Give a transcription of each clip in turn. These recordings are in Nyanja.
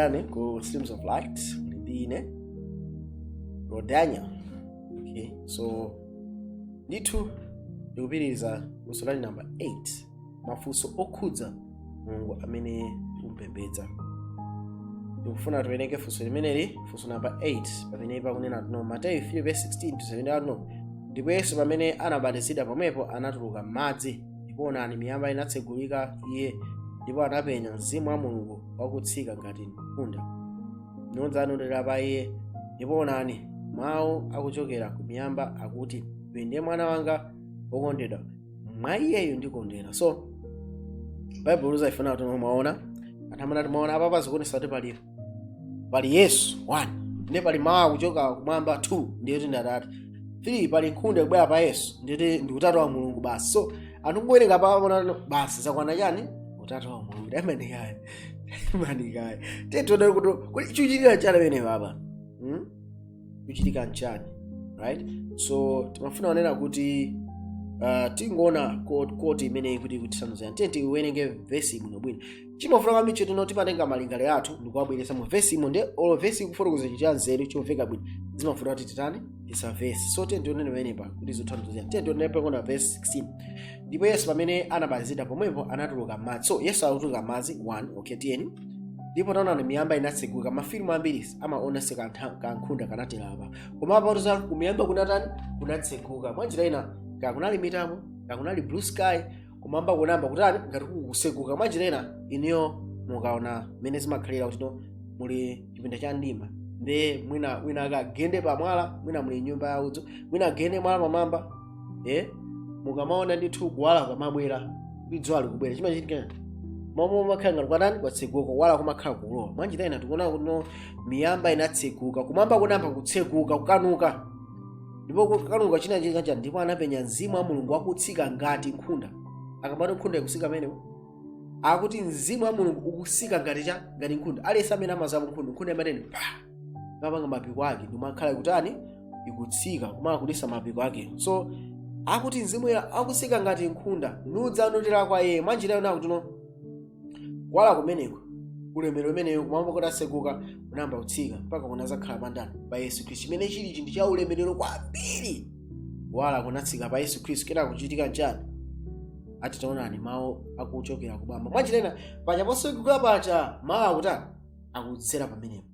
Rani ku Streams of Light ndine Rodania okay so ndithu ndikupitiriza funso lali number 8 mafunso okhudza mulungu amene tikumupembedza ndikufuna tiwerenge funso limeneli funso namba 8 pamene pakunena kuti no mateyu 3 verse 16 to 17 ati no ndipo yesu pamene anabatizidwa pomwepo anatuluka m'madzi ndipo onani miyamba inatsegulika iye ndipo anapenya mzimu wa mulungu wakutsika ngati nkhunda nudza nutera pa iye ndipo onani mawu akuchokera ku miyamba akuti uyu ndiye mwana wanga wokondedwa mwa iyeyo ndikondwera so baibulo lizayifuna kuti mwaona anthu amanena kuti mwaona apapa zikuonesa kuti pali yesu 1 ndiye pali mawu akuchoka kumwamba 2 ndiye kuti ndi atate 3 pali nkhunda kubwera pa yesu ndiye kuti ndi utatu wa mulungu basi so anthu kuwerenga apapa amaona basi zakwana chani utatu wa mulungu taimani kaye imani kaye tiye tione kuti chikuchitika chani pamene apapa hmm? chikuchitika nchani right so timafuna kunena kuti uh, tingoona koti koti imene ikuti ikutithandizira tiye tiwerenge vesi bwinobwino chimavuta kwambiri choti no timatenga malingaliro athu ndikuwabweretsa mu vesi imo nde olo vesi ikufotokoza chinthu cha nzeru chomveka bwino zimavuta kuti titani isa vesi so tiye tione pamenepa kuti zothandizira tiye tione pakunena vesi 16 ndipo yesu pamene anabatizidwa pomwepo anatuluka m'madzi so yesu akutuluka m'madzi 1 okay tiyeni ndipo taonani miyamba inatseguka mafilimu ambiri amaonetsa kankhunda kanatera apa koma apa za kumiyamba kunatani kunatseguka mwanjira ina kaya kunali mitambo kaya kunali blue sky kumwamba kunayamba kutani ngati kukutseguka mwanjira ina inuyo mukaona mmene zimakhalira kuti no muli chipinda cha mdima nde mwina wina akagende pamwala mwina muli nyumba ya udzu mwina agende mwala pamwamba e mukamaona ndithu kuwala kumabwera ndi dzuwa likubwera chimachitika momwe umakhala ngati kwatani kwatseguka kuwala kumakhala kulowa mwanjira ina tikuona kuti miyamba inatseguka kumwamba kunayamba kutseguka kukanuka ndipo kukanuka china chikacha ndipo anapenya mzimu wa mulungu akutsika ngati nkhunda akamati nkhunda ikutsika pamenepo akuti mzimu wa mulungu ukutsika ngati chani ngati nkhunda aliyense amene amadziwapo nkhunda nkhunda imatene pa imapanga mapiko ake ndimakhala ikutani ikutsika kumala kulisa mapiko ake so akuti mzimu woyera akutsika ngati nkhunda nudzanotera kwa iye mwanjira ina akuti no kuwala kumeneko ulemerero umeneyo kumwamba kutatseguka unayamba kutsika mpaka kunazakhala pandani pa yesu khristu chimene chili chinthu cha ulemerero kwambiri kuwala kunatsika pa yesu khristu kenako kuchitika nchani ati taonani mawu akuchokera kumwamba mwanjira ina paja potseguka paja mawu akutani akudzera pamenepo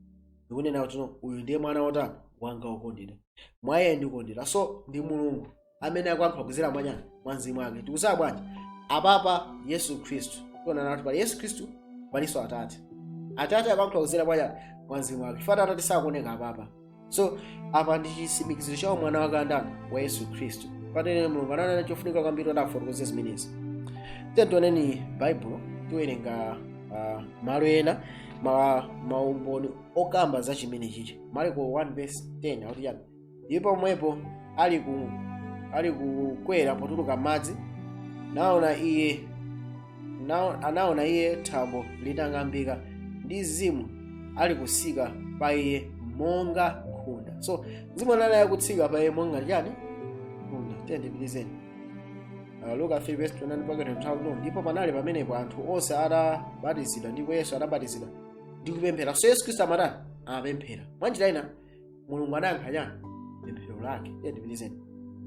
ndikunena kuti no, uyu ndiye mwana wotani wanga wokondedwa mwa iye ndikondwera so ndi mulungu amene akuyankhula kudzera mwa ndani mwa mzimu wake tikudziwa bwanji apapa yesu khristu tionano kuti pali yesu khristu palinso atate atate akuyankhula kudzera mwa ndani mwa mzimu wake chifukwa atate sakuoneka apapa so apa ndi chitsimikiziro cha umwana wake andani wa yesu khristu patene mulungu ananena chofunika kwambiri kuti afotokoze zimenezi tiye tioneni baibulo tiwerenga uh, malo ena ma, maumboni okamba za chimene chichi marko 1 verse 10 akuti chani ndipo pomwepo ali ku ali kukwera potuluka m'madzi naona iye Na- anaona iye thambo litang'ambika ndi mzimu ali kutsika pa iye monga nkhunda so mzimu anali akutsika pa iye monga chani nkhunda tiye ndipitizeni Uh, luka 3 verse 29 mpaka 32 ndipo panali pamenepo anthu onse atabatizidwa ndipo yesu atabatizidwa ndi kupemphera so yesu khristu amatani amapemphera mwanjira ina mulungu anayankha chani pemphero lake tiye ndipitizeni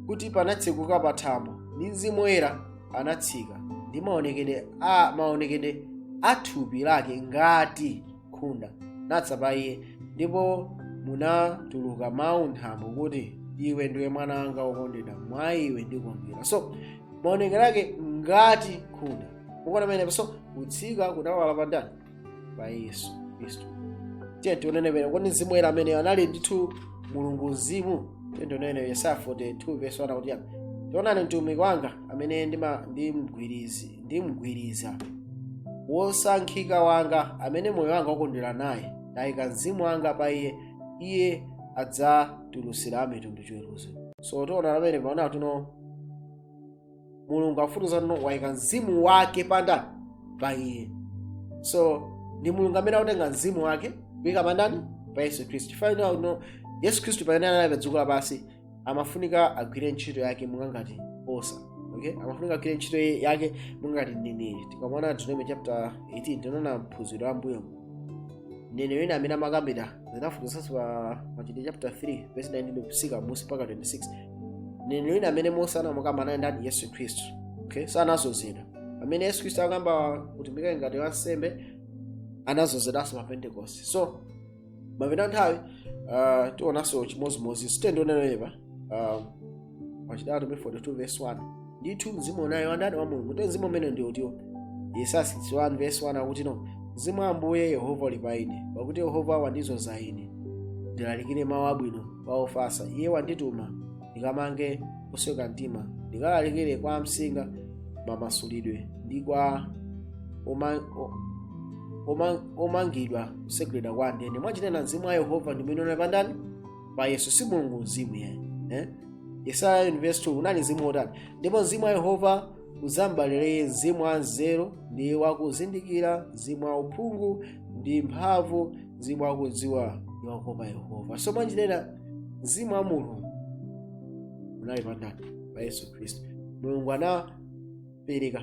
kuti panatseguka pa thambo ndi mzimu woyera anatsika ndi maonekedwe a maonekedwe a thupi lake ngati nkhunda nadza pa iye ndipo munatuluka mawu m'thambo kuti iwe ndiwe mwana wanga wokondedwa mwa iwe ndikondwera so maonekedwe ake ngati nkhunda mukuona pamenepo so kutsika kunawala pa ndani pa yesu khristu tiye tionene pene kodi mzimu woyera ameneyo anali ndithu mulungu mzimu tiye tionene yesaya 42 verse 1 akuti taonani mtumiki wanga amene ndima- ndimgwirizi- ndimgwiriza wosankhika wanga amene moyo wanga ukondwera naye ndayika mzimu wanga pa iye iye adzatulutsira amitundu chiweruzo so tiona pamene paona kuti no mulungu akufotokoza kuti no waika mzimu wake pandani pa iye so ndi mulungu amene akutenga mzimu wake kuika pandani pa yesu khristu chifukwa ino uno yesu khristu pamene anali pa dziko lapansi amafunika agwire ntchito yake monga ngati osa okay amafunika agwire ntchito yake monga ngati mneneri tikamaona deuteronomy chapter 18 tinaona m'phunziro la m'mbuyo mneneri wina amene amakambira zinafotokozanso pa machitidwe chapter 3 verse 19 kufika m'munsi mpaka 26 mneneri wina amene mose anamukamba anali ndani yesu khristu okay so anadzozedwa pamene yesu khristu akuyamba kutumikira ngati wansembe anadzozedwanso pa pentekoste so m'kupita nthawi uh, tionanso chimodzimodzi sitendione loyeba um, wachitatu pe 42 verse 1 ndithu mzimu unali wandani wa mulungu te mzimu umene ndi utiwo yesaya 61 verse 1 akuti no mzimu wa ambuye yehova uli pa ine pakuti yehova wandidzoza ine ndilalikire mawu abwino kwa ofatsa iye wandituma ndikamange osweka mtima ndikalalikire kwa amsinga mamasulidwe ndi kwa oma- o- oma- omangidwa kutsegulidwa kwa ndende mwachionena mzimu wa yehova ndi umene unali pandani pa yesu si mulungu mzimu iyayi eh? yesaya 9 verse 2 unali mzimu wotani ndipo mzimu wa yehova udzambalira iye mzimu wa nzeru ndi wakuzindikira mzimu wa uphungu ndi mphamvu mzimu wakudziwa ndi wakuopa yehova so mwachionena mzimu wa mulungu unali pandani pa yesu khristu mulungu anapereka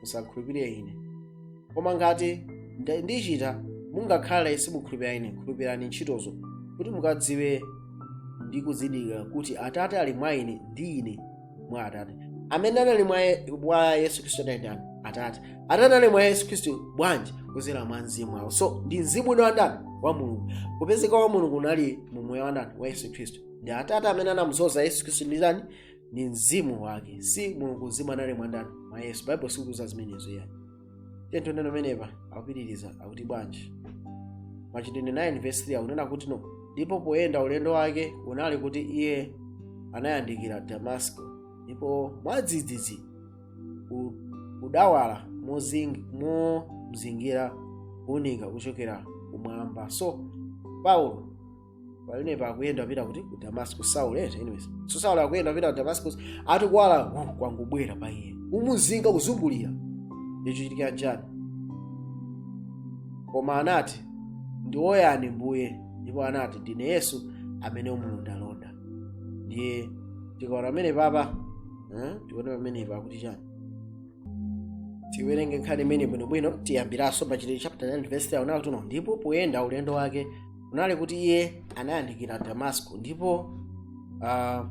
musakhulupirire ine koma ngati nda- ndichita mungakhale simukhulupirira ine khulupirirani ntchitozo kuti mukadziwe ndi kuzindikira kuti atate ali mwa ine ndi ine mwa atate amene anali mwa Ye- mwa yesu khristu anali ndani atate atate ali mwa yesu khristu bwanji kudzera mwa mzimu wawo so ndi mzimu unali wandani wa mulungu kupezeka wa mulungu unali mu moyo wandani wa yesu khristu ndi atate amene anamudzoza yesu khristu ndi ndani ndi mzimu wake si mulungu mzimu anali mwandani mwa yesu baibulo sikutiuza zimenezo iyayi tento ndiyeno pamenepa akupitiriza akuti bwanji machitidwe 9 verse 3 akunena kuti no ndipo poyenda ulendo wake kunali kuti iye anayandikira damasiko ndipo mwadzidzidzi u- kudawala mozing- momzingira kuunika kuchokera kumwamba so paulo pamenepa akuyenda kupita kuti ku damascus saul eti anyways so saul akuyenda kupita ku damascus ati kuwala uh, kwangobwera pa iye kumuzinga kuzungulira chikuchitika nchani koma anati ndinu yani mbuye ndipo anati ndine yesu amene umulondalonda ndiye tikaona pamene papa eh, tione pamene pa kuti chani tiwerenge nkhani imene bwinobwino tiyambiranso machitidwe chapter 9 verse 3 akunena kuti no ndipo poyenda ulendo wake kunali kuti iye anayandikira damasiko ndipo ah,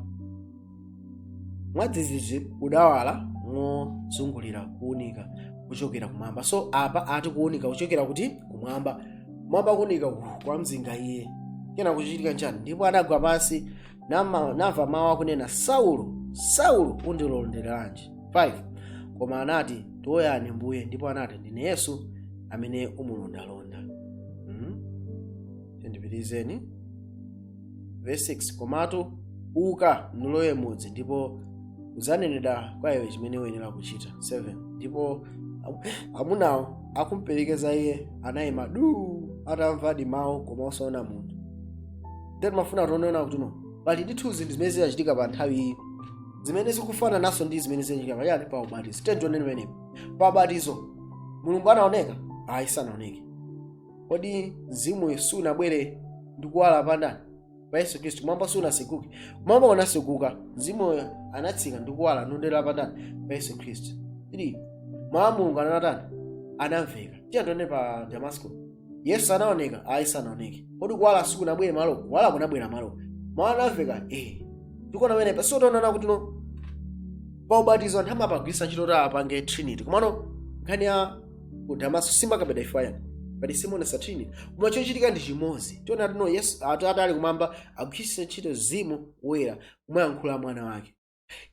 mwadzidzidzi kudawala mozungulira kuunika kuchokera kumwamba so apa ati kuunika kuchokera kuti kumwamba kumwamba kuunika uku kwamzinga iye kenako kuchitika nchani ndipo anagwa pansi nama- namva mawu akunena saulo saulo undilonderanji 5 koma anati ndinu yani mbuye ndipo anati ndine yesu amene umulondalonda mm? tiyeni tipitirizeni verse 6 komatu uka nulowe m'mudzi ndipo udzanenedwa kwa iwe chimene uyenera kuchita 7 ndipo am- amunawo akumperekeza iye anayima duu atamvadi mawu koma osaona munthu ndiye timafuna tione kuti no pali ndithu zinthu zimene zinachitika pa nthawi iyi zimene zikufanananso ndi zimene zinachitika pachani pa ubatizo tiye tioneni pamenepo pa ubatizo mulungu anaoneka ayi sanaoneke kodi mzimu woyera sunabwere ndi kuwala pa ndani pa yesu khristu m'mwamba sunatseguke m'mwamba unatseguka mzimuyo anatsika ndi kuwala nutera pa ndani pa yesu khristu 3 mawu a mulungu anatani anamveka tiye tioneni pa damasiko yesu anaoneka ayi sanaoneke kodi kuwala sikunabwere malo kuwala kunabwera malo mawu anamveka eh tikuona pamenepa so tionana kuti no pa ubatizo anthu amapagwiritsa ntchito kuti apange trinity komano nkhani ya ku damasiko simakabeda ifayana pati simaonetsa trinity koma chochitika ndi chimodzi tiona kuti no yesu atate ali kumwamba agwiritsa ntchito mzimu woyera kumayankhula mwana wake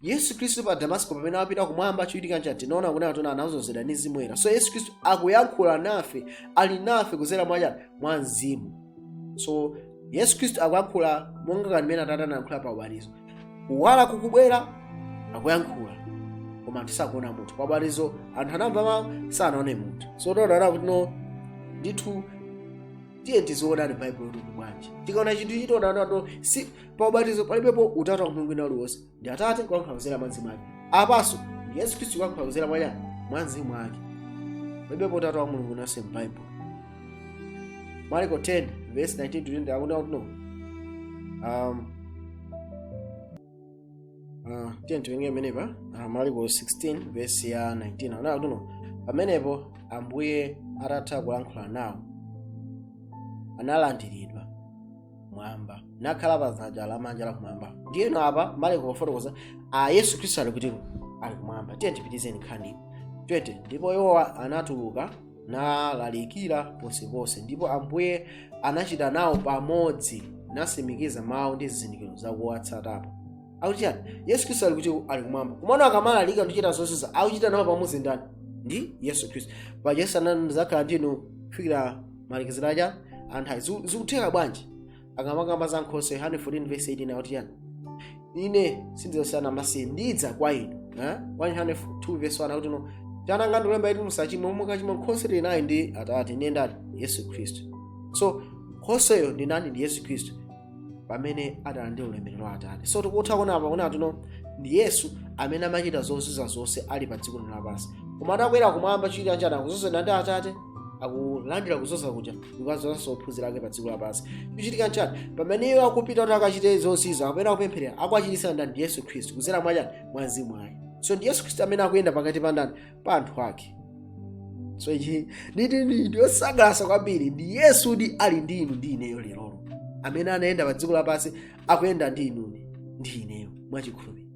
yesu khristu pa damasiko pamene apita kumwamba chochitika nchani tinaona kuti anthu anadzozedwa ndi mzimu woyera so yesu khristu akuyankhula nafe ali nafe kudzera mwa chani mwa mzimu so yesu khristu akuyankhula monga kanthu mmene atate anayankhula pa ubatizo kuwala kukubwera akuyankhula koma anthu sakuona munthu pa ubatizo anthu anamva mawu sanaone munthu so tionana kuti no ndithu tiye tiziwonani baibulo kuti bwanji tikaona chinthu chitonaona to si pa ubatizo palibepo utatu wa mulungu wina uliwonse ndi atate kulankhula kudzera mwa mzimu wake apanso ndi yesu khristu kulankhula kudzera mwa chani mwa mzimu wake palibepo utatu wa mulungu winanso m'baibulo marko 10 verse 19 to 20 akuti akuti no um, uh, tiye tiwerenge pamenepa uh, marko 16 verse ya 19 akuti akuti no pamenepo ambuye atatha kulankhula nawo analandiridwa m'mwamba nakhala pa dzanja lamanja la kumwamba ndiyeno apa maliko akufotokoza yesu khristu ali kuti ali kumwamba tiye tipitirizeni nkhani 20 ndipo iwowa anatuluka nalalikira ponseponse ndipo ambuye anachita nawo pamodzi natsimikiza mawu ndi zizindikiro zakuwatsatapo akuti chani yesu khristu ali kuti ali kumwamba komano akamalalika ndi kuchita zozizwa akuchita nawo pamodzi ndani ndi yesu khristu paja yesu anati ndidzakhala ndinu kufikira malekezero a chani nthawi ayi Ziku- zikutheka bwanji akamakamba za nkhoswe yohane 14 verse 18 akuti chani ine sindidzasiya ana amasiye ndidza kwa inu eh? 102 verse 1 akuti no tiana tanga ndikulembera kuti musachimwe koma mukachimwa nkhoswe tili naye ndi atate ndiye ndani yesu khristu so nkhosweyo ndi ndani ndi yesu khristu pamene adalandira ulemerero wa atate so tikutha kuona apa kuti kuno ndi yesu amene amachita zozizwitsa zonse ali pa dziko lapansi koma atakwera kumwamba chichitika nchani akuzozedwa ndi atate akulandira kuzoza kuja ndikudzozanso ophunzira ake pa dziko lapansi chichitika nchani pamene iwo akupita kuti akachite zozizwitsa kapena akupempherera akuachititsa ndani ndi yesu khristu kuzera mwachani mwa mzimu wake so ndi yesu khristu amene akuyenda pakati pa ndani pa anthu ake so ichi nchinthu chosangalatsa kwambiri kuti yesu ndi ali ndi inu ndi ineyo lerolo amene anayenda pa dziko lapansi akuyenda ndi inuni ndi ineyo mwachikhulupiriro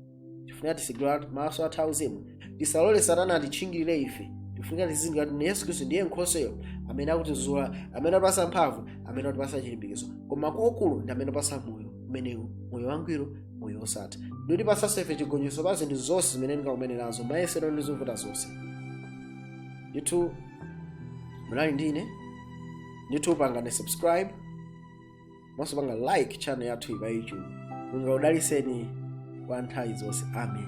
tifunika titsegule maso athu auzimu tisalole satana atitchingirire ife tifunika tizindikire kuti yesu khristu ndiye nkhoswe amene akutizoza amene amatipasa mphamvu amene amatipasa chilimbikitso koma kwakukulu ndi amene amatipasa moyo umenewu moyo wangwiro moyo osatha ndikutipasaso ife chigonjetso pa zinthu zonse zimene tingakumane nazo mayesero ndi zovuta zonse ndithu munali ndine ndithu pangani subscribe komanso pangani like channel yathuyi pa youtube mulungu akudaliseni kwa nthawi zonse amen